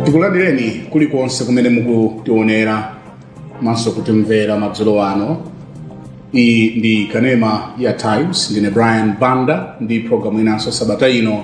tikulandireni kulikonse kumene mukutionera komanso kutimvera madzulo ano iyi ndi kanema ya times ndine brian banda ndi programu inanso sabata ino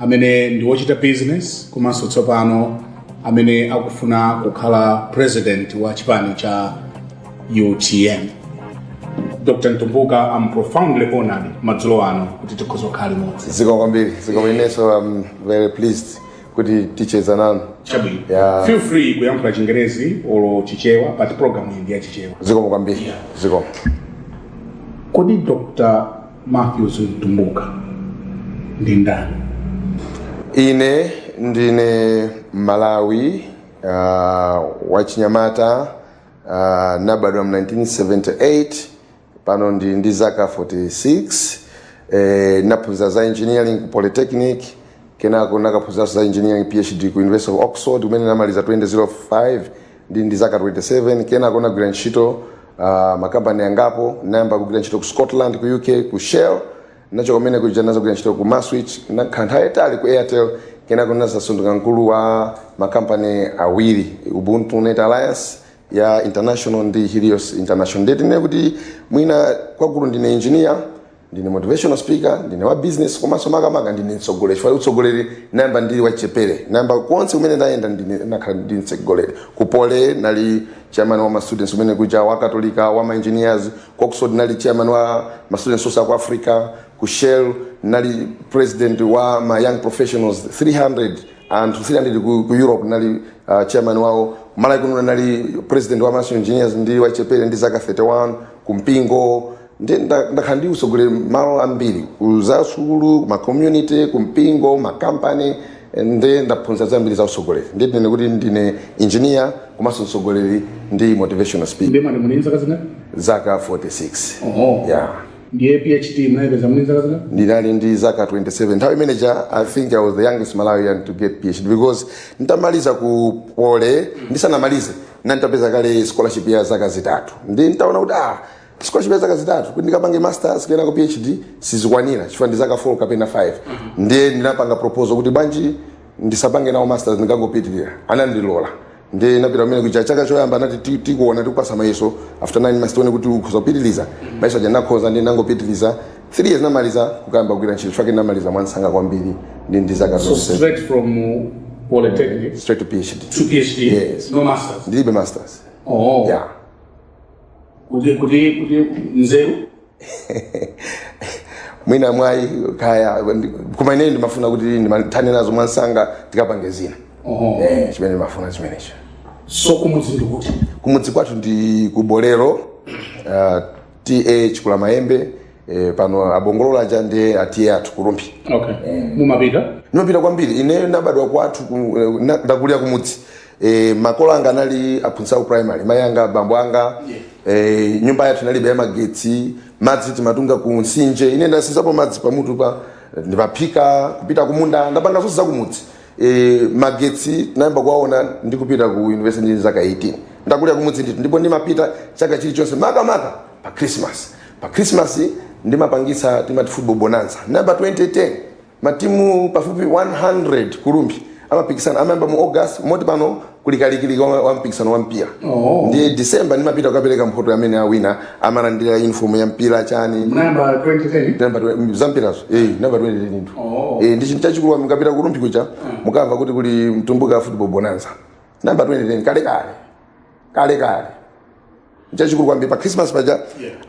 amene ndi wochita business komanso tsopano amene akufuna kukhala president wa chipani cha utm dr mtumbuka am profoundly honored madzulo ano kuti tikhoza kukhala limodzi zikomo kwambiri zikomo kwa inenso i'm very pleased kuti ticheza nanu chabwino Yeah. feel free kuyankhula chingerezi olo chichewa but program iyi ndi ya chichewa zikomo kwambiri zikomo kodi dr Matthews Mtumbuka ndi ndani? Ine ndine Mmalawi uh, wachinyamata uh, nabadwa mu 1978 pano ndili ndi zaka 46 eh, naphunzira za engineering ku Polytechnic kenako nakaphunziranso za engineering PhD ku University of Oxford kumene namaliza 2005 ndili ndi zaka 27 kenako ndinagwira ntchito uh, makampani angapo ndinayamba kugwira ntchito ku scotland ku uk ku shell ndinachoka kumene kuja ndinazagwira ntchito ku maswich ndinakhala nthawi yayitali ku airtel kenako ndinazasanduka mkulu wa makampani awiri ubuntu net alliance ya international ndi helios international nde tinene kuti mwina kwakulu ndine engineer ndine motivational speaker ndine wa business komanso makamaka ndine mtsogoleri chifukwa utsogoleri nayamba ndili wachepere nayamba konse komwe ndayenda nakhala ndili mtsogoleri ku poly nali chairman wa ma students kumene kuja wa katolika wa ma engineers ku oxford nali chairman wa ma students onse a ku africa ku shell nali president wa ma young professionals 300 anthu 300 ku, ku europe nali uh, chairman wawo malawi kuno nali president wa maso engineers ndili wachepere ndi zaka 31 ku mpingo ndi nda- ndakhala ndi utsogoleri malo ambiri ku za sukulu ma community ku mpingo ma company ndiye ndaphunzira zambiri za utsogoleri nde tinene kuti ndine engineer komanso mtsogoleri ndi motivational speaker ndiye mwati muli ndi zaka zingati zaka 46 Oho. yeah ndiye phd munayipeza muli ndi zaka zingati ndinali ndi zaka 27 nthawi imeneja i think i was the youngest malawian to get phd because nditamaliza ku poly ndisanamalize nali nditapeza kale scholarship ya zaka zitatu nde nditaona kuti ah scholarship ya zaka zitatu kuti ndikapange masters kenako phd sizikwanira chifukwa ndi zaka 4 kapena 5 ndiye ndinapanga proposal kuti bwanji ndisapange nawo masters ndikangopitirira anandilola ndiye napita kumenekuja chaka choyamba anati "Ti- tikuona tikupasa mayeso after 9 months tione kuti ukhoza kupitiriza mayeso aja ndinakhoza ndiye ndangopitiriza 3 years namaliza kukayamba kugwira ntchito chifukwa ndinamaliza mwansanga kwambiri ndi ndi zaka so zonse straight from uh, polytechnic straight to phd to phd Yes. no masters ndilibe masters oh yeah kuti kuti kuti nzeru mwina mwayi kaya ndi- koma ineyi ndimafuna kuti ndimathane nazo mwansanga ndikapange zina Oho. Eh, chimene ndimafuna chimenecho so kumudzi ndi kuti kumudzi kwathu ndi ku bolero uh, TA Chikulamayembe eh, pano abongolola aja ndi a TA athu ku Rumphi okay mumapita ndimapita kwambiri ine nabadwa kwathu ku- eh, na- ndakulira kumudzi e, makolo anga anali aphunzitsi aku primary mayi anga bambo anga e, nyumba yathu inalibe ya magetsi madzi timatunga ku nsinje ine ndasenzapo madzi pamutu apa ndi kuphika kupita kumunda ndapanga zonse zakumudzi e, magetsi ndinayamba kuwaona ndikupita ku university ndi zaka 18 ndakulira kumudzi ndithu ndipo ndimapita chaka chilichonse makamaka pa christmas pa christmas ndimapangitsa timati football bonanza nayamba 2010 Matimu pafupi 100 ku Rumphi amapikisana amayamba mu August moti pano kuli kalikiliki wa wa mpikisano wa mpira Oh. ndi December ndimapita kukapereka mphoto amene awina amalandira uniform ya mpira chani Munayamba 2010. Nayamba twe- za mpirazo eh nayamba 2010 ndithu Oh. eh ndi chinthu chachikulu mukapita ku Rumphi kuja mukamva kuti kuli mtumbuka football bonanza nayamba 2010 kale kale kale kale chachikulu kwambiri pa christmas paja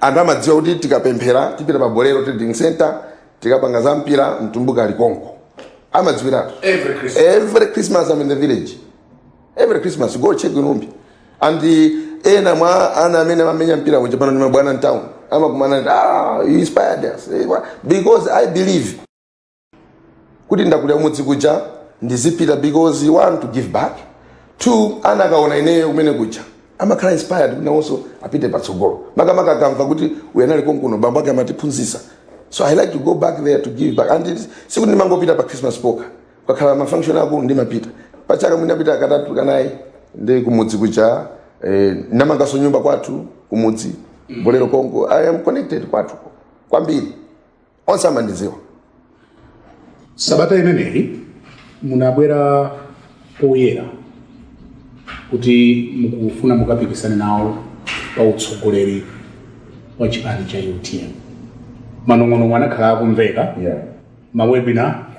anthu amadziwa kuti tikapemphera tipita pa bolero trading center tikapanga za mpira mtumbuka ali konko amadziwiratu Every Christmas. every christmas i'm in the village every christmas go check in Rumphi and uh, ena mwa ana amene amamenya mpira kunja pano ndi mabwana mtown amakumana nde ah you inspired us Eh, wa- because i believe kuti ndakulira kumudzi kuja ndizipita because one to give back two ana akaona ineyo kumenekuja amakhala inspired kuti nawonso apite patsogolo makamaka akamva kuti uyu anali konkuno bambo ake amatiphunzitsa so i like to go back there to give back and it- sikuti ndimangopita pa christmas pokha pakakhala mafunction akulu ndimapita pachaka mwina napita katatu kanayi ndi kumudzi kuja eh, namanganso nyumba kwathu kumudzi bolero konko i am connected kwathu kwambiri onse amandidziwa sabata imeneyi munabwera poyera kuti mukufuna mukapikisane nawo pa utsogoleri wa chipani cha utm manong'onong'o anakhala akumveka Yeah. mawebina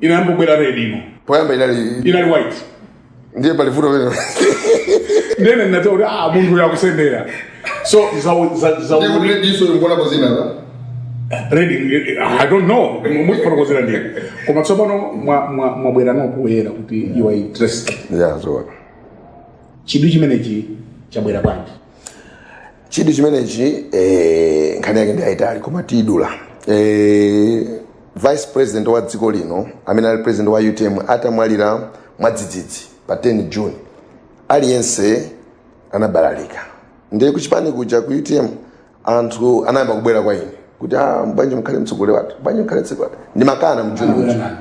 inayamba kubwera red ino poyamba inali inali white ndiye pali vuto lero ndiye ndinaona kuti ah munthu uyu akusendera so za- za- za- ndiye kuti rediso ikuonapo dzina la red i don't know mufotokozera ndine koma tsopano mwa- mwa- mwabwerano poyera kuti you are interested ya zoona chidwi chimenechi chabwera bwanji chidwi chimenechi eh, nkhani yake ndi yayitali koma tiidula eh, vice president wa dziko lino amene ali president wa utm atamwalira mwadzidzidzi pa 10 june aliyense anabalalika ndiye kuchipani kuja ku utm anthu anayamba kubwera kwa ine kuti ah, bwanji mkhale mtsogoleri wathu bwanji mkhale mtsogoleri wathu ndimakana mu June kuja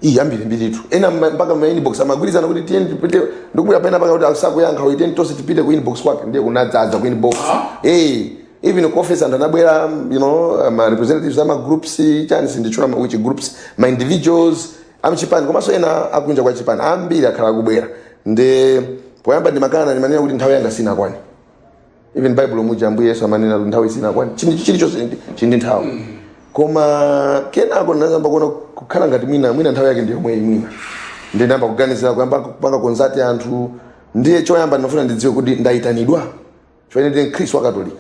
iyi ambirimbiritu ena mma- mpaka ma inbox amagwirizana kuti tiyeni tipite ndikuona pena mpaka kuti asakuyankha uyu tiyeni tonse tipite ku inbox kwake ndiye kunadzadza ku inbox eh even ku office anthu anabwera you know ma representatives ama groups chani sinditchula ma- which groups ma individuals amchipani komanso ena akunja kwa chipani ambiri akhala akubwera ndiye poyamba ndimakana ndimanena kuti nthawi yanga sinakwane even baibulo muja ambuye yesu amanena kuti nthawi sinakwane chinthu chilichonse ndi- chili ndi nthawi koma kenako ndinadzayamba kuona kukhala ngati mwina mwina nthawi yake ndiyomweyi mwina ndinayamba kuganizira kuyamba kupanga consult anthu ndiye choyamba ndinafuna ndidziwe kuti ndayitanidwa chifukwa ndine mkhristu wa katolika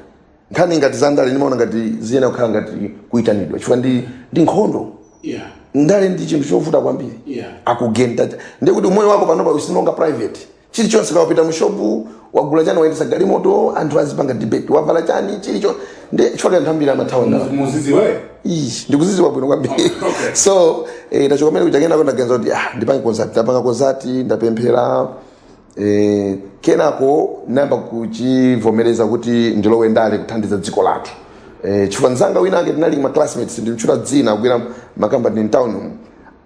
nkhani ngati za ndale ndimaona ngati ziyenera kukhala ngati kuyitanidwa chifukwa ndi ndi nkhondo yeah ndale ndi chinthu chovuta kwambiri Yeah. akugenda ndiye kuti umoyo wako panopa is no longer private chilichonse kaya wapita mushopu wagula chani wayendesa galimoto anthu azipanga debate wavala chani chilicho ndi chifukwa anthu ambiri amathawa ndale mudzidziwe Ish, ndikuzidziwa bwino kwambiri Okay. so eh, tachoka mene kuja kenako ndaganiza kuti ah, ndipange consult ndapanga consult ndapemphera eh, kenako nayamba kuchivomereza kuti ndilowe ndale kuthandiza dziko lathu eh, chifukwa nzanga wina ake tinali ma classmates ndimtchula dzina kugwira makampani mtown umu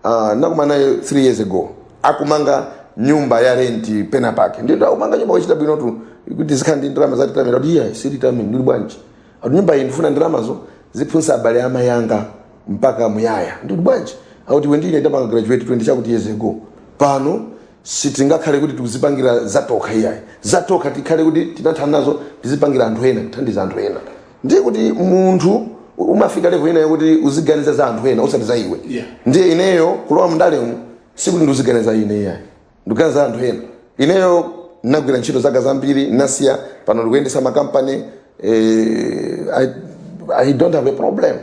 uh, nakumana naye 3 years ago akumanga nyumba ya renti pena pake ndiye ndiye akumanga nyumba wachita bwinotu kuti uzikhala ndi ndalama za retirement kuti iyayi si retirement ndili bwanji ati nyumba iyi ndifuna ndalamazo ziphunzitsa abale a mayi anga mpaka muyaya ndili bwanji akuti iwe ndine ndapanga graduate 20 chakuti years ago pano Sitingakhale kuti tikuzipangira zatokha iyayi. Zatokha tikhale kuti tinathana nazo tizipangira anthu ena, kuthandiza anthu ena. Ndiye kuti munthu umafika level ina yokuti uziganiza za anthu ena osati za iwe. Yeah. Ndiye ineyo kulowa mundalemu sikuti ndiuziganiza za ine iyayi. Ndikuganiza za anthu ena. Ineyo ndinagwira ntchito zaka zambiri, ndinasiya, pano ndikuyendetsa makampani, eh, I, I don't have a problem.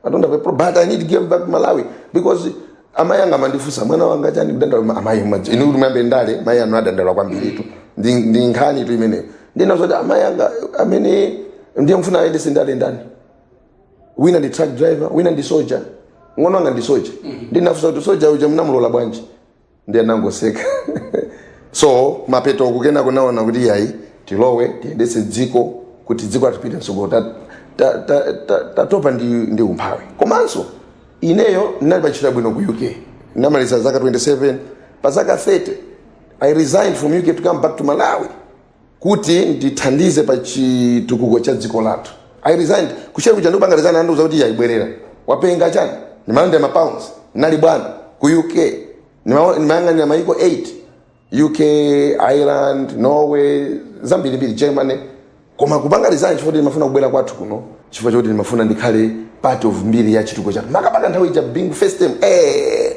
I don't have a problem, but I need to give back Malawi because amai anga amandifunsa mwana wanga chani kudandaula amai mwaje inu kuti muyambe ndale mai anu adandaula kwambiritu ndi ndi nkhanitu imeneyo ndina zoti amai anga amene ndiye mfuna ayendetse ndale ndani wina ndi truck driver wina ndi soja mng'ono wanga ndi soja ndinafunsa kuti soja uja munamulola bwanji ndiye nangoseka so mapeto ake nangoona kuti yayi tilowe tiyendetse dziko kuti dziko atipite mtsogolo Ta- ta- ta- ta- tatopa ndi, ndi umphawi komanso ineyo ndinali pantchito yabwino ku uk ndinamaliza zaka 27 pa zaka 30 i resigned from uk to come back to malawi kuti ndithandize pa chitukuko cha dziko lathu i resigned ku shell kuja ndikupanga resign andiuza kuti yayi bwerera wapenga chani ndimalandira ma pounds ndinali bwana ku uk ndima- ndimayang'anira mayiko 8 uk ireland norway zambirimbiri germany koma kupanga resign chifukwa kuti ndimafuna kubwera kwathu kuno chifukwa choti ndimafuna ndikhale part of mbiri ya chitukuko chathu makamaka nthawi ija being first time eh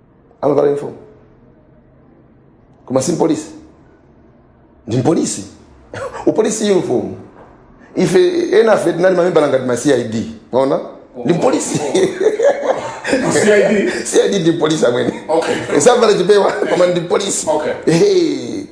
amavala uniform koma si mpolisi ndi mpolisi upolisi uniform ife enafe tinali mamembala ngati ma cid mwaona ndi mpolisi CID. cid ndi mpolisi amwene Okay. savala chipewa koma ndi mpolisi Okay. Hey.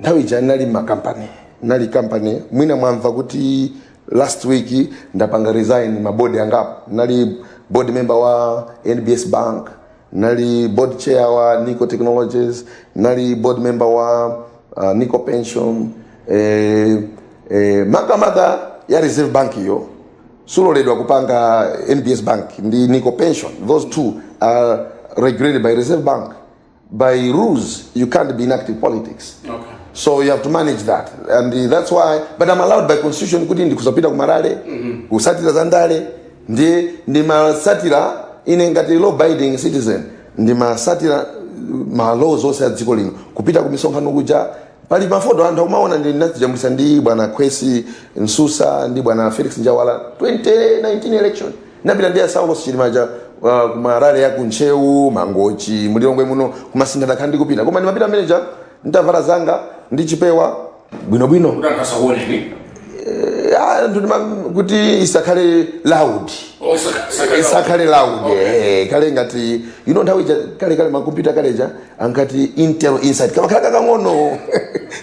nthawi ija nali makampani nali kampani mwina mwamva kuti last week ndapanga resign mabodi angapo nali board member wa nbs bank nali board chair wa nico technologies nali board member wa uh, nico pension eh, eh, makamaka ya reserve bank iyo suloledwa kupanga nbs bank ndi nico pension those two are regulated by reserve bank by rules, you can't be in active politics. Okay. So you have to manage that. And uh, that's why, but I'm allowed by constitution kuti ndikhoza kupita kuma rally, mm-hmm. kutsatira zandale, ndiye ndimatsatira ine ngati law abiding citizen, ndimatsatira uh, ma laws onse a dziko lino, kupita kumisonkhano kuja, pali mafoto anthu akumaona ndi ndinazijambulitsa ndi bwana Kwesi Msusa ndi bwana Felix Njawala 2019 election. napita ndi a saulos chilima aja uh, kuma rally ya kuntcheu mangochi mu lilongwe muno ku masintha ndakhala ndikupita koma ndimapita mmene ija nditavala zanga ndi chipewa bwinobwino kuti anthu asakuoneni Eh, ah, anthu ndima- kuti isakhale loud Oh, saka- saka- isakhale loud Okay. eh, ikhale ngati you know nthawi ija kale kale makompyuta kaleja ankati intel inside kamakhala kakang'ono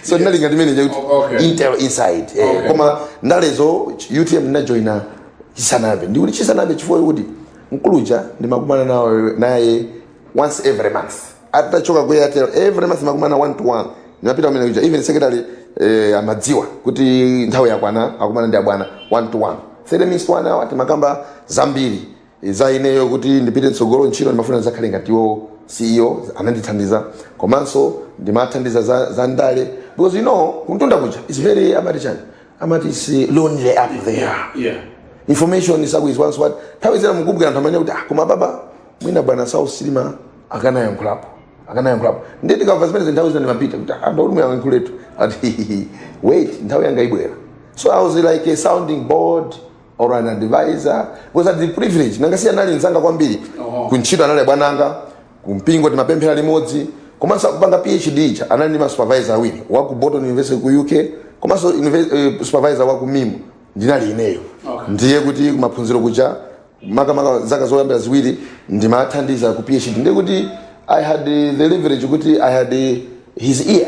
so ndinali ngati mmene ija kuti Okay. intel inside eh, Okay. koma ndalezo utm ndinajoina chisanabe ndikuti chisanabe chifukwa kuti mkuluja ndimakumana nayo naye once every month atachoka ku airtel every month makumana one to one ndimapita kumene kuja even secretary eh, amadziwa kuti nthawi yakwana akumana ndi abwana one to one thirty minutes one hour timakamba zambiri eh, za ineyo kuti ndipite mtsogolo ntchito ndimafuna ndidzakhale ngati iwo ceo amandithandiza komanso ndimathandiza za, za ndale because you know kumtunda kuja is very amati chani amati is lonely up there yeah, yeah. information is always sanitized nthawi zina mukumva anthu amanena kuti ah koma baba mwina bwana saulos chilima akanayankhulapo akanayankhulapo ndiye tikamva zimenezi nthawi zina ndimapita kuti ah ndolo muyankhuletu ati wait nthawi yanga ibwera so i was like a sounding board or an advisor because I had the privilege nanga si anali nzanga kwambiri Oh. kuntchito anali abwananga Ku mpingo timapemphera limodzi komanso akupanga PhD ija anali ndi ma supervisor awiri wa ku Bolton University ku UK komanso unive- eh, supervisor wa ku MIM ndinali ineyo Okay. ndiye kuti kumaphunziro kuja makamaka zaka zoyambira ziwiri ndimathandiza ku PhD ndiye kuti I had eh, the leverage kuti I had eh, his ear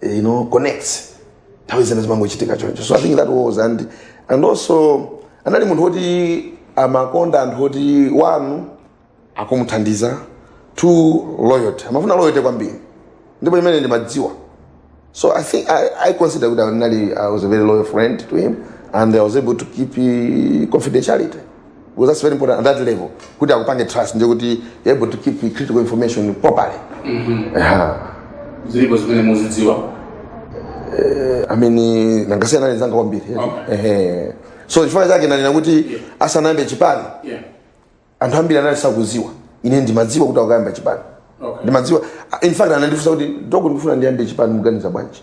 eh, you know connects nthawi zina zimangochitika choncho so i think that was and and also anali munthu woti amakonda anthu oti one akumuthandiza two loyalty amafuna loyalty kwambiri ndipo zimene ndimadziwa so i think i, I consider kuti anali i was a very loyal friend to him and i was able to keep eh, confidentiality because that's very important at that level kuti akupange trust ndiye kuti you're able to keep the critical information properly Aha. zilipo zimene muzidziwa I mean nanga si anali nzanga kwambiri Okay. Ehe. so chifukwa chake nanena kuti asanayambe chipani yeah anthu ambiri anali sakudziwa ine ndimadziwa kuti akuyamba chipani Okay. ndimadziwa in fact anandifunsa kuti doko ndikufuna ndiyambe chipani muganiza bwanji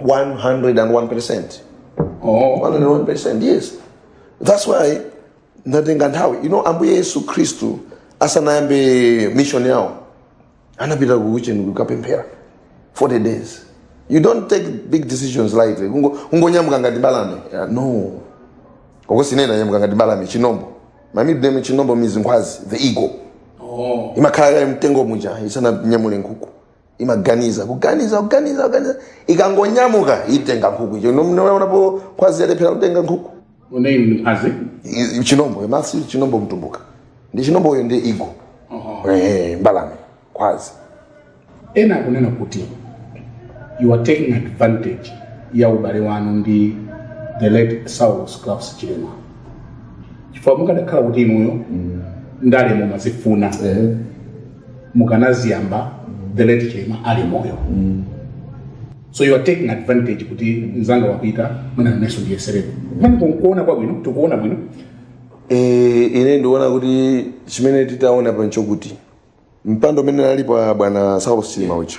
101%. Oh. 101%, yes. That's why ndatenga nthawi. You know, Ambuye Yesu Kristu asanayambe mission yawo anapita kutchire kukapemphera 40 days. You don't take big decisions lightly. Ungo ungonyamuka ngati mbalame. Yeah, no. Kapena ukanena nyamuka ngati mbalame chinombo. My middle name chinombo means nkhwazi, the eagle. Oh. Imakhala mu mtengo muja isananyamule nkhuku. imaganiza kuganiza kuganiza kuganiza ikangonyamuka itenga nkhuku icho munaonapo nkhwazi yalephera kutenga nkhuku Dzina ndi nkhwazi? I- i- chinombo Matthews chinombo mtumbuka ndi chinombo uyo ndi eagle Ehe, mbalame nkhwazi Ena akunena kuti you are taking advantage ya ubale wanu ndi the late Saulos Klaus Chilima. Chifukwa mukadakhala kuti inuyo ndale mumazifuna mukanaziyamba the late chilima ali moyo so you are taking advantage kuti mzanga wapita mwina naneso ndiyeserepo mmene kuona kwabwino tikuona bwino e, ine ndiona kuti chimene titaona pancho kuti mpando umene analipo bwana saulos chilima uja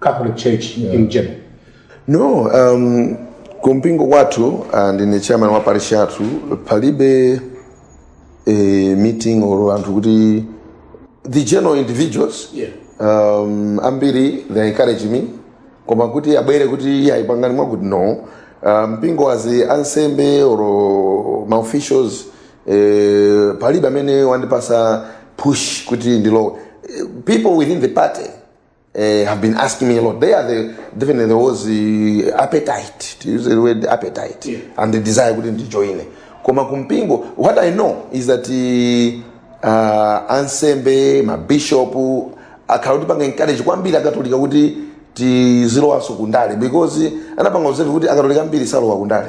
Catholic Church yeah. in general? No, um, kumpingo kwathu uh, ndine chairman wa parish yathu palibe eh, meeting or anthu kuti the general individuals yeah. um, ambiri they encourage me koma kuti abwere kuti iye ayipangani mwakuti no uh, mpingo kapena ansembe or maofficials eh, palibe amene wandipatsa push kuti ndilowe Eh, people within the party uh, have been asking me a lot. There, definitely there was the appetite, to use the word appetite, Yeah. and the desire kuti ndijoine. Koma kumpingo, what I know is that uh, uh, ansembe, mabishopu, akhala akutipanga encourage kwambiri akatolika kuti tizilowanso kundale because anapanga observe kuti akatolika ambiri salowa kundale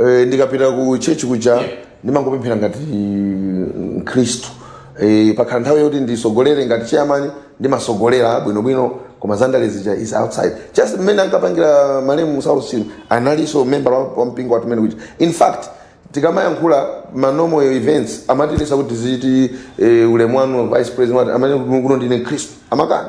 Eh, ndikapita ku church kuja ndimangopemphera ngati mkhristu Eh, pakhala nthawi yoti ndisogolere ngati chairman ndimasogolera bwinobwino koma zandale zija is outside just mmene ankapangira malemu Saulos analinso member wa wa mpingo wathu umene kuja in fact tikamayankhula mmenemo ma events amatiletsa kuti tiziti eh, ulemu wanu vice president amati ine kuno ndine mkhristu amakana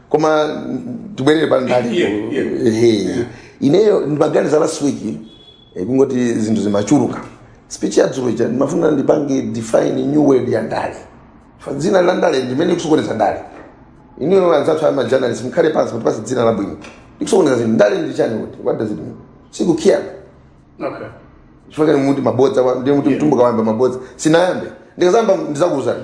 koma tibwerere pa ndale Yeah, yeah. Ehe. ineyo ndimaganiza last week eh, kungoti zinthu zimachuluka speech ya dzulo ija ndimafuna ndipange define new word ya ndale Fa- dzina la ndale ndi limene likusokoneza ndale inuyo anzathu ama journalist mukhale pansi mutipatse dzina labwino likusokoneza zinthu ndale ndi chani kuti what does it mean sikukiyana Okay. chifukwa inu muti mabodza wa- ndiye muti mtumbuka wayamba mabodza sinayambe ndikazayamba ndizakuuzani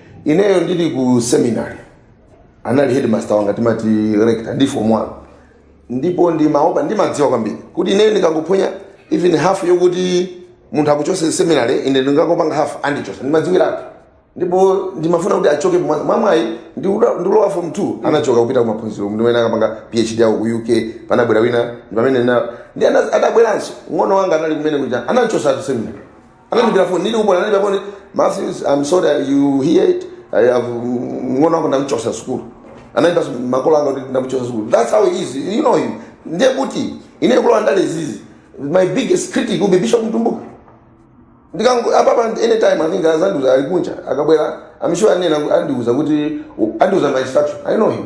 ineyo ndili ku seminary anali headmaster wanga timati rector ndi form one ndipo ndimaopa ndimadziwa kwambiri kuti ineyo ndikangophonya even half yokuti munthu akuchose seminary ine ndikangopanga half andichosa ndimadziwiratu ndipo ndimafuna kuti achoke mwa- mwamwayi ndikulo- ndikulowa form 2 anachoka kupita kumaphunziro ndi mmene amakapanga phd yawo ku uk panabwera wina ndi pamene na- ndi ana- adabweranso mng'ono wanga anali komwe kuja anamchosatu seminary anandiimbira foni ndili ku Bunda anandiimbira foni Matthews I'm sorry uh, you hear it I have mng'ono wako ndamchosa sukulu anaimbira makolo anga kuti ndamchosa sukulu that's how he is you know him ndiye kuti ine kulowa ndale izizi my biggest critic will be Bishop Mtumbuka ndikango- apapa anytime I think azandiuza ali kunja akabwera I'm sure anena andiuza kuti andiuza my instruction I know him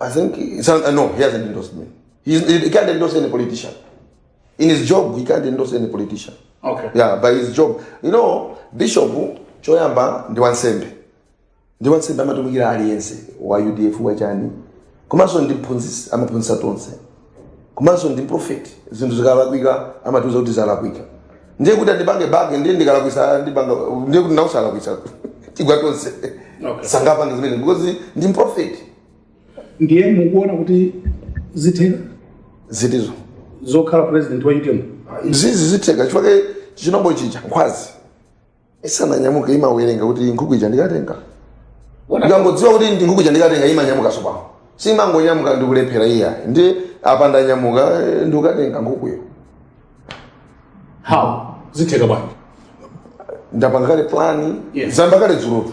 I think it's un- uh, no, he hasn't endorsed me. He's, he can't endorse any politician. In his job, he can't endorse any politician. Okay. Yeah, by his job. You know, Bishop choyamba ndi wansembe. Ndi wansembe amatumikira aliyense wa UDF wachani. Komanso ndi mphunzitsi amaphunzitsa tonse. komanso ndi prophet zinthu zikalakwika amatiuza kuti zalakwika ndiye kuti andipange back ndiye ndikalakwisa andipanga ndiye kuti nawe ukalakwisa tigwa tonse Okay. sangapange zimene because ndi prophet ndiye mukuona kuti zitheka zitizo zokhala president wa utm zizi zitheka chifukwa chiwombankhanga nkhwazi isananyamuka imawerenga kuti nkhuku ija ndikatenga ikangodziwa kuti ndi nkhuku ija ndikatenga imanyamuka sopano siimangonyamuka ndikulephera iyayi ndiye apa ndanyamuka eh, ndikukatenga nkhukuyo how zitheka bwanji ndapanga kale plani Yes. zayamba kale dzulotu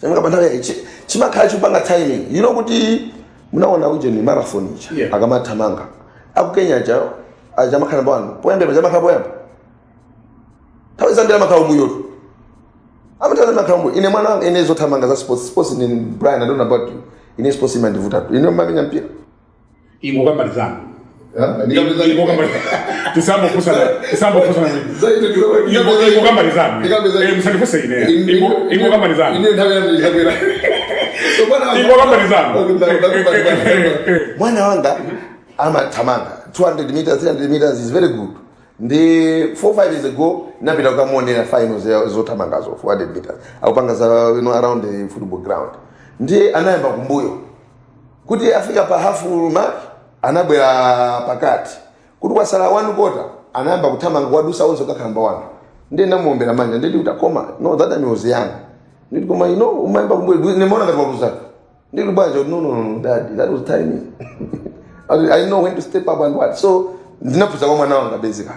Chimanga pa nthawi yake chimakhala chikupanga timing. You know kuti munaona ujeni marathon ija yeah. akamathamanga akukenya aja samakhala pano poyamba samakhala poyamba nthawi zambiri amakhala mmbuyotu amatani amakhala mmbuyo ine mwana wanga ine zothamanga za sports sports in Brian I don't know about you ine sports imandivutatu ine ndimamenya mpira ingokambalizana mwana wanga amathamanga 200 meters 300 meters he's very good ndi 4 5 years ago ndinapita kukamuonera finals ya- zothamangazo 400 meters akupanga za you know, around the football ground ndiye anayamba kumbuyo kuti afika pa half mark anabwera pakati kuti kwasala one quarter anayamba kuthamanga kuwadutsa onse kukakhala number one ndiye ndinamuombera manja nditi kuti akoma no that time he was young nditi koma you know unayamba kumbuyo ndimaona ngati waluza nditi bwanji akuti no no no dad that was timing I, I know when to step up and what so ndinaphunzira kwa mwana wanga basically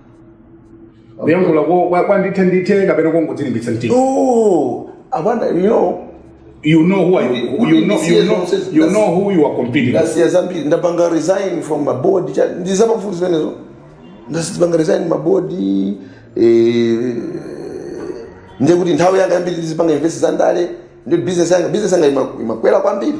mukuyankhula ko- kwa- kwandithendithe kapena kongodzilimbitsa mtima no i wonder you know you know who are you, you, know, you, know, you know who you are competing with. ndasiya zambiri ndapanga resign from mabodi muzamva zimenezo ndapanga resign mabodi eh, ndiye kuti nthawi yanga yambiri ndizipanga invest za ndale ndi business yanga business yanga ima- imakwera kwambiri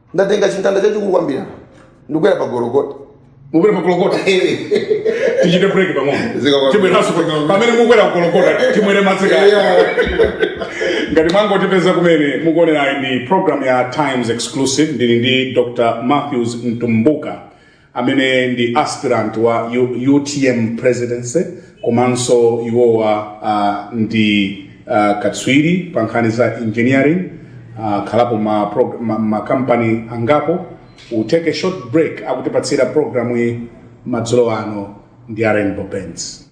ndatenga chimtanda chachikulu kwambiri apa ndikukwera pa gologota mukwera pa gologota tichite break pang'ono tibweranso pamene mukwera pa gologota timwere madzi kaye ngati mwangotipeza kumene mukuonerayo ndi program ya times exclusive ndili ndi dr matthews mtumbuka amene ndi aspirant wa U, utm presidency komanso iwowa uh, ndi uh, katswiri pa nkhani za engineering uh, akhalapo ma, prog- ma, ma company angapo we'll take a short break akutipatsira programu iyi madzulo ano ndi a rainbow paints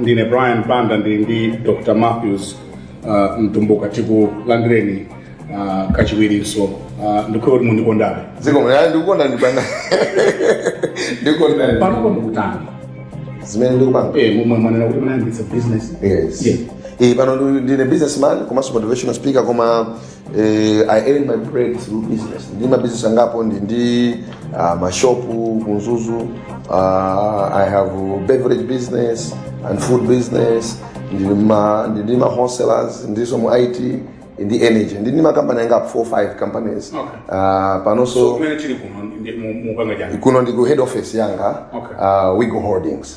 ndine brian banda ndili ndi dr matthews uh, mtumbuka tikulandireni uh, kachiwirinso uh, ndikhulupirira kuti mundikondabe zikomo ayi ndikukonda a banda ndikukonda panopo mukutani zimene mukupanga eh, momwe mwanena kuti munayambitsa business yes Yeah. Eh, pano ndi- ndine businessman komanso motivational speaker koma Eh, I earn my bread through business. Ndi ma business angapo ndi ndi uh, ma shop ku Mzuzu. Uh, I have beverage business and food business. Ndi ma ndi ndi ma wholesalers, ndilinso mu IT, ndi energy. Ndi ndi ma company angapo 4 5 companies. Okay. Uh, panonso kumene tili kuno ndi mu- mupanga chani kuno ndi ku head office yanga Okay. uh, Weagle Holdings.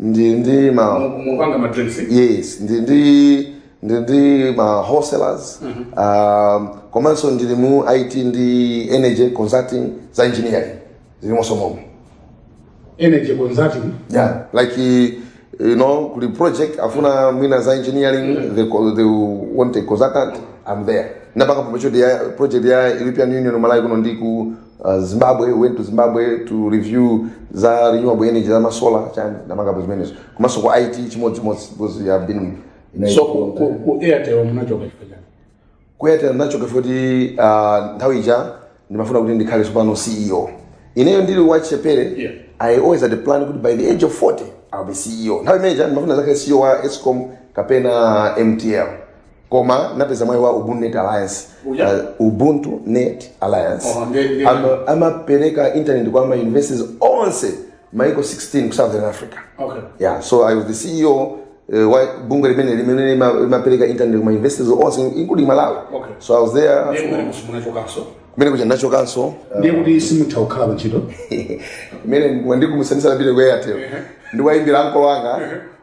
ndi ndi ma Mu- mupanga madrinks yes ndi ndi ndi ndi ma wholesalers um, komanso ndili mu it ndi energy consulting za engineering zilimonso momwe energy consulting yeah like eh, you know kuti project afuna mwina za engineering they, co- they want a consultant i'm there napanga promotion ya project ya european union malawi kuno ndi ku uh, zimbabwe went to zimbabwe to review za renewable energy za masola chani ndimapanga zimenezo komanso ku it chimodzimodzi because you have been with Nike so ku- ku- ku airtel munachoka chifukwa chani ku airtel ndinachoka poti uh, nthawi ija ndimafuna kuti ndikhale tsopano ceo ineyo ndili wachichepere Yeah. i always had a plan kuti by the age of 40 i'll be ceo nthawi imeneja ndimafuna ndizakhale ceo wa escom kapena mtl koma napeza mwayi wa ubuntu net alliance Uja. uh, ubuntu net alliance Oh, ndi- ndi- Ama- amapereka internet kwa ma universities onse maiko 16 ku southern africa Okay. yeah so i was the ceo uh, wa bungwe limene limene lima- limapereka internet ku ma universities onse including malawi Okay. so i was there Ndiye kumene uko munachokanso. kumene kuja nachokanso Ndiye kuti simutha kukhala pa ntchito. mmene ndikumasanzika ndapita ku airtel ndikuwayimbira ankolo anga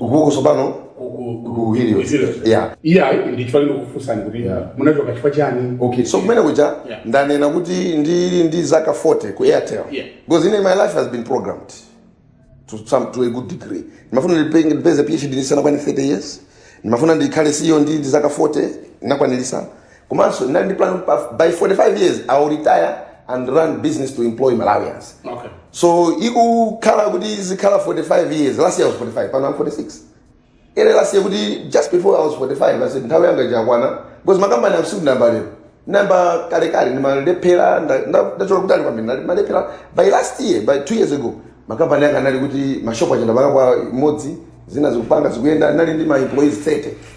Ukuko tsopano ku- ku- ku- ku Helios. ku Helios. Yeah. Eya ayi ndichifukwa ndikukufunsani kuti Yeah. munachoka chifukwa chani? Okay, so kumene kuja Yeah. ndanena kuti ndili ndi zaka 40 ku Airtel. Yeah. Because my life has been programmed to some to a good degree. Ndimafuna ndipe- ndipeze PhD ndisanakwane 30 years. Ndimafuna ndikhale CEO ndi ndi zaka 40 nakwanilisa. komanso ndinali ndi plan pa- by 45 years i will retire and run business to employ malawians Okay. so ikukhala kuti zikhala 45 years last year i was 45 pano i'm 46 ene last year kuti just before i was 45 i said nthawi yanga ija yakwana because makampani sindinayambe lero ndinayamba kalekale ndimalephera nda- nda- ndachoka kutali kwambiri ndimalephera by last year by two years ago makampani anga anali kuti mashopu achenda pakapwa imodzi zina zikupanga zikuyenda ndinali ndi ma employees 30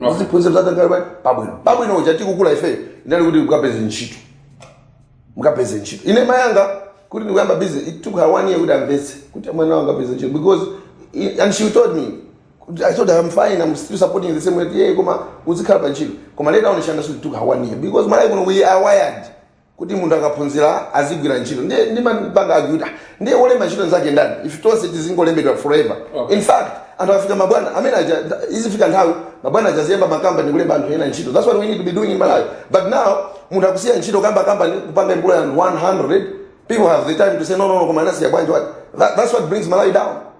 muziphunzira mudzakhale pabwino pabwino uja tikukula ifeyo inali kuti mukapeze ntchito mukapeze ntchito ine mayi anga kuti ndikuyamba business it took her one year kuti amvetse kuti mwana wanga apeze ntchito because i- and she told me kuti, i told her i'm fine i'm still supporting the same way yeah koma uzikhala pa ntchito koma later on she understood it took her one year because malawi kuno we are wired kuti munthu akaphunzira azigwira ntchito ndiye ndimapanga argue kuti ah, ndiye wolemba ntchito anzake ndani ife tonse tizingolembedwa forever Okay. in fact anthu afika mabwana amene aja izifika nthawi mabwana aja aziyamba makampani kulemba anthu ena ntchito that's what we need to be doing in malawi but now munthu akusiya ntchito kuyamba kampani kupanga employ 100 people have the time to say no no no koma anasiya bwanji what That- that's what brings malawi down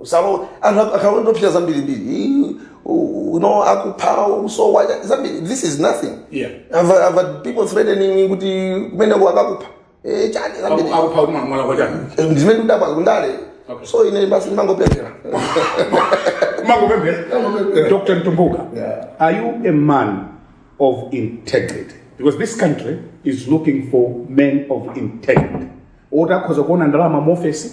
usalowe anthu akhala ndopita zambiri mbiri you know akupha usowa zambiri this is nothing Yeah. I've, I've had people threatening kuti kumeneko akakupha eh chani zambiri akupha kuti mwana mwana kwachani Eh, ndimene kudabwa kundale Okay. so ine basi ndimangopemphera makupemphera Makupemphera. dr mtumbuka Yeah. are you a man of integrity because this country is looking for men of integrity oti akhoza kuona ndalama mu ofesi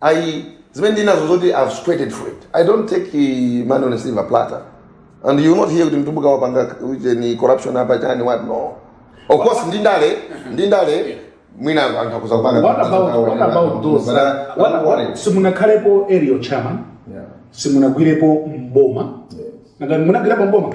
ayi zimene ndinazo zoti i've sweated for it i don't take eh, money on a silver platter and you will not hear kuti mtumbuka wapanga uje ni corruption apa chani what no of course ndi ndale ndi ndale mwina anthu akhoza kupanga What about, what about those? But I- I'm What, not worried. what, simunakhalepo area chairman, Yeah. simunagwirepo mboma, Yes. Nanga- munagwirepo mboma.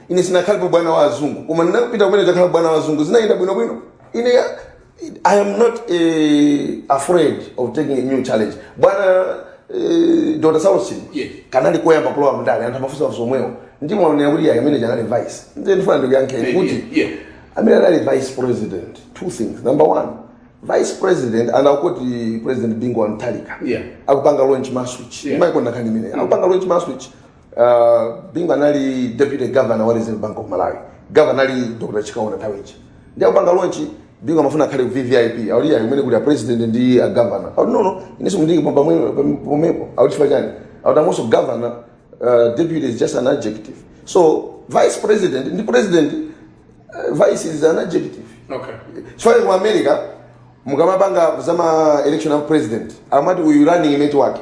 ine sinakhalepo bwana wa azungu koma ndinapita kumeneko kukakhala bwana wa azungu zinayenda bwinobwino ine ya- i am not eh, afraid of taking a new challenge bwana eh, dr saulos Yes. kanali koyamba kulowa mndale anthu amafunsa mafunso omwewo ndiye mwanena kuti yayi amene uja anali vice ndiye ndifuna ndikuyankheni Yeah, kuti yeah, yeah. amene anali vice president two things number one vice president ana kuti president bingu wa mutharika Yeah. akupanga launch malswitch Yeah. yeah. ndimaikonda nkhani imene akupanga launch malswitch Uh, bingu anali deputy governor wa reserve bank of malawi governor ali dr chikaonda nthawi ija ndiye akupanga launch bingu amafuna akhale ku vvip akuti yayi kumene kuli a president ndi a governor akuti no no inenso mundiike pomwepo akuti chifukwa chani akuti i am also governor uh, deputy is just an adjective so vice president ndi president uh, vice is an adjective okay chifukwa ku america mukamapanga zama election of president amati uyu running mate wake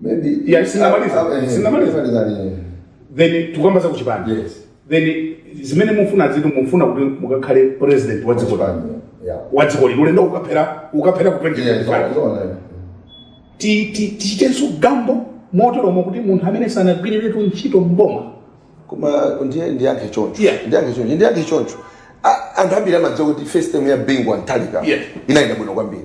Maybe Yeah, sinamaliza. Ah, ah, eh, Sinamaliza. sinamaliza lini? then tikukamba za kuchipani Yes. then zimene mufuna ziti mufuna kuti mukakhale president wa dziko lanu Yeah. wa dziko lino ulendo ukaphera ukaphera ku Yeah, 2025 it's on, eh. Ti- ti- tichitenso gamble moteromo kuti munthu amene sanagwiriretu ntchito mboma koma ndiye ndiyankhe choncho Yeah. ndiyankhe choncho ndiyankhe choncho A- anthu ambiri amadziwa kuti first term ya Bingu wa Mutharika Yeah. inayenda bwino kwambiri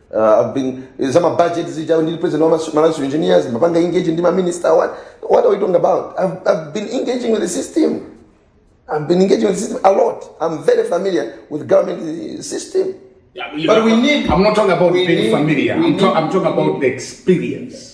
uh, being, eh, zama budget zija ndi president wa Malawi engineers mapanga engage ndi ma minister what what are we talking about I've, I've been engaging with the system I've been engaging with the system a lot I'm very familiar with government eh, system yeah, but know, we need I'm not talking about being need, familiar I'm, need, I'm talking about the experience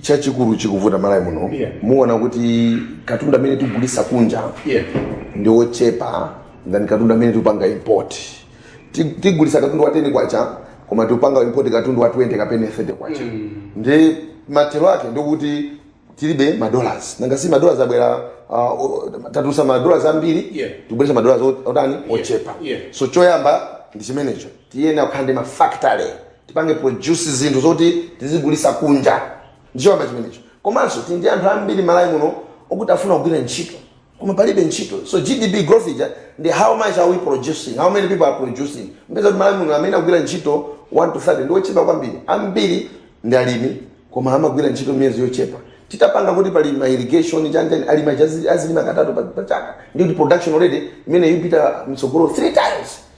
chachikulu chikuvuta malawi muno Yeah. muona kuti katundu amene tikugulisa kunja Yeah. ndi ochepa than katundu amene tikupanga import Ti- tigulisa katundu wa 10 kwacha koma tikupanga import katundu wa 20 kapena 30 kwacha nde mathero ake ndikuti tilibe madollars nanga si madollars abwera uh, o- tatulusa madollars ambiri Yeah. tikubweretsa madollars ot- otani ochepa Yeah. so choyamba ndi chimenecho Tiyenera kukhala ndi ma factory tipange produce zinthu zoti tizigulisa kunja ndi choyamba chimenecho komanso tili ndi anthu ambiri malawi muno okuti afuna kugwira ntchito koma palibe ntchito so GDP growth ija ndi how much are we producing how many people are producing mupeza kuti malawi muno amene agwira ntchito 1 to 30 ndiwochepa kwambiri ambiri ndi alimi koma amagwira ntchito miyezi yochepa titapanga kuti pali ma irrigation chanjani alima azilima katatu pa chaka ndi kuti production already imeneyo ipita mtsogolo 3 times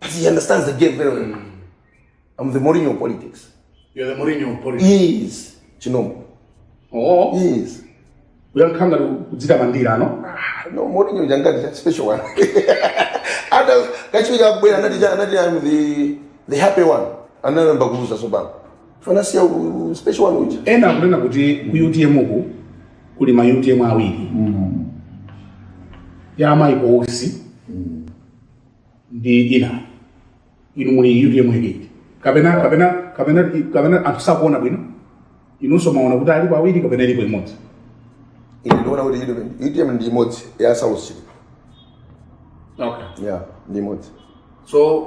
But he understands the game very well. Mm. I'm the Mourinho of politics. You're the Mourinho of politics? Yes. Ndinamwa. Oh. Yes. mukuyankha ngati kudzitamandira no ah, no Mourinho anazitcha special one atakachiwiri akubwera anazitcha anati I'm the the happy one anayamba kuluza so bola asamasiye special one uja ena akunena kuti ku UTM uku kuli ma UTM awiri mm. ya amayi kosi mm. ndi ina inu muli utm itiyo kapena kapena kapena kapena anthu sakuona bwino inunso mumaona kuti alipo awiri kapena ilipo imodzi ine ndiona kuti UTM UTM ndi imodzi ya Saulos Chilima okay. ya ndi imodzi so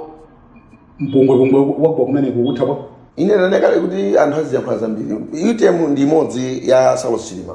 mpungwepungwe wagwa kumene kukutha kwa ine ndinene kale kuti anthu aziyankhula zambiri utm ndi imodzi ya Saulos Chilima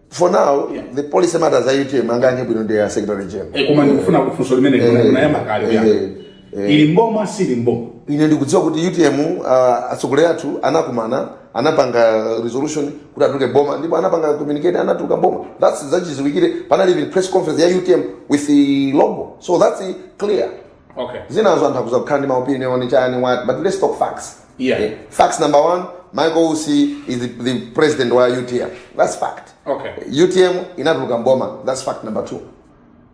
for now yeah. the policy matters a utm angayankhe bwino ndi a secretary general eh, koma ndikufuna funso limene eh, linayamba kale eh, eh, eh, ili mboma sili mboma ine ndikudziwa kuti utm uh, ah, atsogoleri athu anakumana anapanga resolution kuti atuluke boma ndipo anapanga communicate anatuluka boma that's zachidziwikire panali even press conference ya utm with the logo so that's clear okay zinazo anthu akutha kukhala ndi maopinion chani what but let's talk facts Yeah. Eh, facts number one, Michael Usi is the, the president wa UTM. That's fact. Okay. UTM inatuluka mboma. That's fact number two.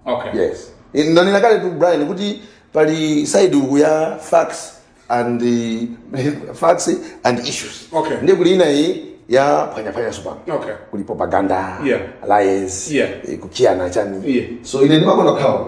Okay. Yes. Eh, Na ninakale tu Brian kuti pali side uku ya facts and the facts and issues. Okay. Ndiye kuli ina iyi ya panya panya supano. Okay. Kuli propaganda, Yeah. lies, Yeah. eh, kukiana chani. Yeah. So ine ndimakonda khawa.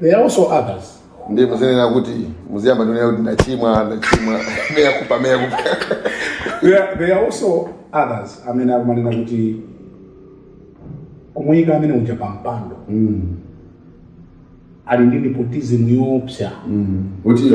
There are also others. ndiye muzinena kuti muziyamba ndikunena kuti ndachimwa ndachimwa mea culpa mea culpa There are, there are also others amene akumanena kuti kumuyika amene uja pampando ali ndi nepotism yoopsa kuti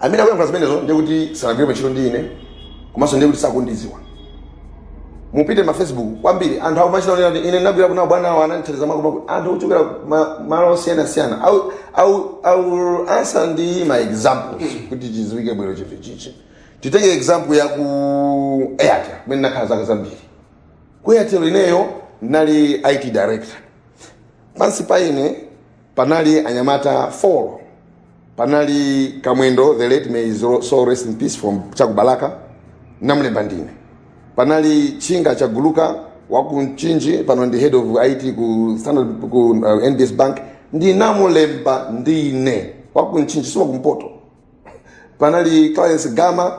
amene akuyankhula zimenezo ndiye kuti sanagwire ntchito ndi ine komanso ndiye kuti sakundidziwa mupite ma facebook kwambiri anthu akumachita onena kuti ine ndinagwira kuna bwana awo anandithandiza mako mako anthu ochokera ma- malo osiyana siyana i will- I will- I will answer ndi my examples kuti chidziwike bwino chinthu ichi titenge example ya ku airtel kumene ndinakhala zaka zambiri ku airtel ineyo ndinali it director pansi pa ine panali anyamata 4 panali kamwendo the late may his soul rest in peace from chakubalaka ndinamlemba ndine panali chinga chaguluka wakumchinji pano ndi head of it ku standard ku uh, nbs bank ndinamulemba ndine wakumchinji si wakumpoto panali clarence gama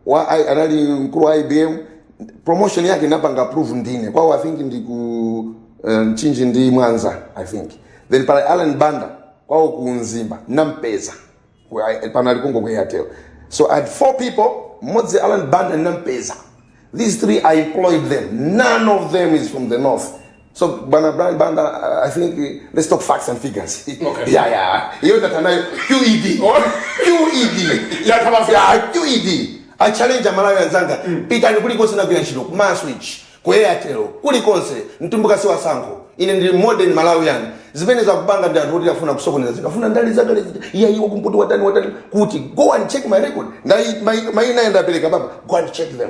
wa I- anali mkulu wa ibm promotion yake ndinapanga approve ndine kwawo i think ndi ku uh, mchinji ndi mwanza i think then panali alan banda kwawo ku mzimba ndinampeza Ku- I- pano ali kongo ku airtel so i had four people mmodzi alan banda ndinampeza these three i employed them none of them is from the north So bwana Brian Banda, I think uh, let's talk facts and figures. Okay. Yeah, yeah. Hiyo tatanayo QED. Oh. QED. Yeah, kama yeah, QED. I challenge Malawi wenzanga. Mm. Pita ni kuliko sina vya shilo. Ma switch. Kwa Airtel. Kulikonse. Mtumbuka si wasango. Ine ndi modern Malawian. Zimene za kupanga ndi anthu oti afuna kusokoneza zinthu. Afuna ndali zake lezi. Iya iwo kumputu watani watani. Kuti go and check my record. Ndai maina yenda peleka baba. Go and check them.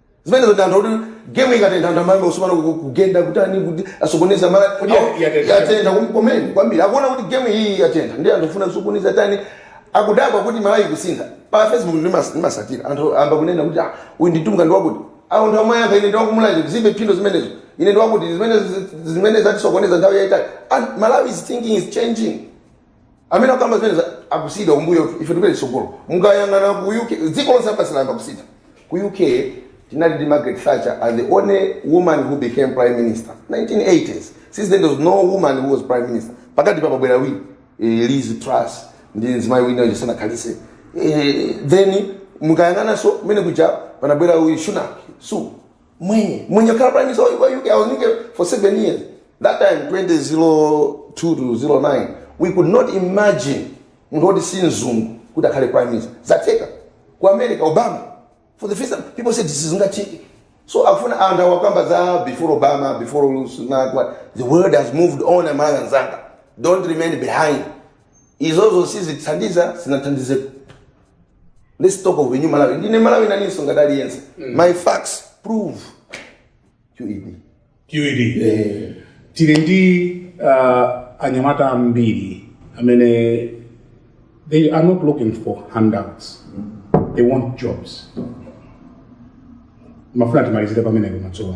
zimenezo ndi anthu akuti gemu ikatentha anthu amayamba kusopana ku- kugenda kutani kuti asokoneza mala Kodi ya- yatentha? yatentha kum- komeni kwambiri akuona kuti gemu iyi yatentha ndi anthu ofuna kusokoneza tani akudabwa kuti malawi ikusintha pa facebook ndimas- ndimatsatira anthu ayamba kunena kuti "Ah, uyu ndi mtumbuka ndi wakuti awo ndi amayankha ine ndiwakumulanje zilibe phindu zimenezo ine ndiwakuti zimene zimene zatisokoneza nthawi yayitali And malawi's thinking is changing amene akukamba zimene za- akusiyidwa kumbuyo ife tipite tsogolo mukayang'ana ku uk dziko lonse lapansi layamba kusintha ku uk tinali ndi margaret thatcher as the only woman who became prime minister 1980s since then there was no woman who was prime minister pakati apa panabwera awiri eh, liz truss ndi mzimayi wina uja sanakhalitse eh, then mukayang'ananso mene kuja panabwera uyu sunak su mwenye mwenye kukhala prime minister wa UK I was in UK for seven years that time 2002 to 09 we could not imagine munthu woti si mzungu kuti akhale prime minister zatheka ku america obama for the first time people said this is ngathiki so akufuna anthu awakamba za before obama before Sunak, what the world has moved on amalawi anzanga don't remain behind izozo sizithandiza sizinathandizepo let's talk of a new malawi ndine mmalawi nanenso ngati aliyense my facts prove qed QED. Eh, Tili ndi uh, anyamata ambiri amene they are not looking for handouts. They want jobs. Ndimafuna timalizire pamenepo madzulo.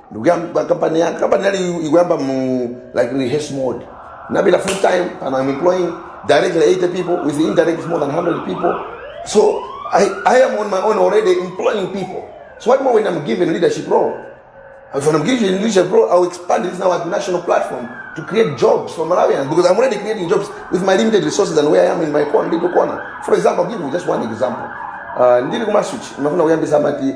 ndikuyamba kampani yanga kampani yali ikuyamba mu like rehearse mode nabila full time and i'm employing directly 80 people with indirect more than 100 people so i i am on my own already employing people so what more when i'm given leadership role if i'm given leadership role i'll expand this now at national platform to create jobs for malawians because i'm already creating jobs with my limited resources and where i am in my corner little corner for example I'll give you just one example uh, ndili kumaswitch ndimafuna kuyambisa amati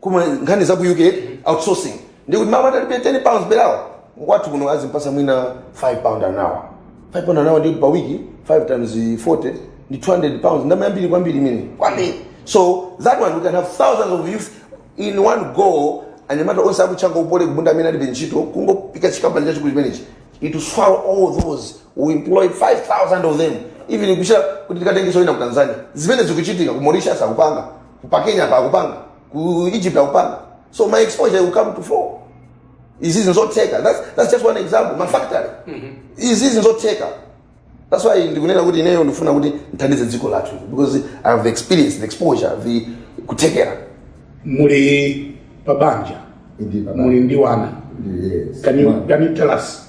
koma nkhani za ku uk outsourcing ndikuti m'malo atalipe 10 pounds per hour wathu kuno azimpasa mwina 5 pound an hour 5 pound an hour ndi per week 5 times 40 ndi 200 pounds ndama yambiri kwambiri imeneyi kwambiri so that one we can have thousands of youth in one go anyamata onse aku chancol ku poly ku bunda amene alibe ntchito kungoika chikampani chachikulu chimenechi it will swallow all those we employ 5000 of them even kuchita kuti tikatengenso ena ku tanzania zimene zikuchitika ku mauritius akupanga pa kenya pa akupanga ku egypt akupanga so my exposure will come to fore izizi nzotheka that's, that's just one example ma factory izizi nzotheka that's why ndikunena kuti ineyo ndifuna kuti ndithandize dziko lathu because i have the experience the exposure the kuthekera muli pabanja muli ndi wana yes. can you, can you tell us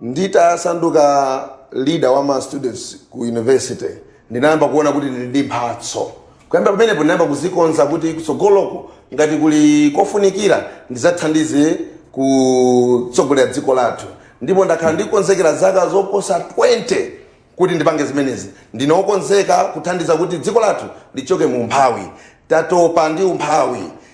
nditasanduka leader wa ma students ku university ndinayamba kuona kuti ndili ndi mphatso kuyambira pamenepo ndinayamba kuzikonza kuti kutsogoloko ngati kuli kofunikira ndizathandize kutsogolera dziko lathu ndipo ndakhala ndikukonzekera zaka zoposa 20 kuti ndipange zimenezi ndine wokonzeka kuthandiza kuti dziko lathu lichoke mu umphawi tatopa ndi umphawi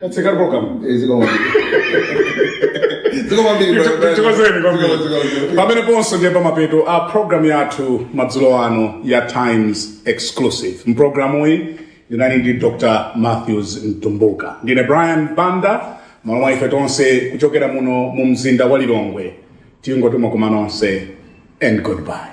That's a good program. Eh, zikomo. Zikomo kwambiri, brother, brother. Tithokoze kwambiri. Zikomo, zikomo, zikomo. pameneponso ndiye pamapeto a programu yathu madzulo ano ya times exclusive mprogramuyi ndinali ndi dr matthews mtumbuka ndine brian banda m'malo mwa ife tonse kuchokera muno mu mzinda wa lilongwe tingoti mwakoma nonse and goodbye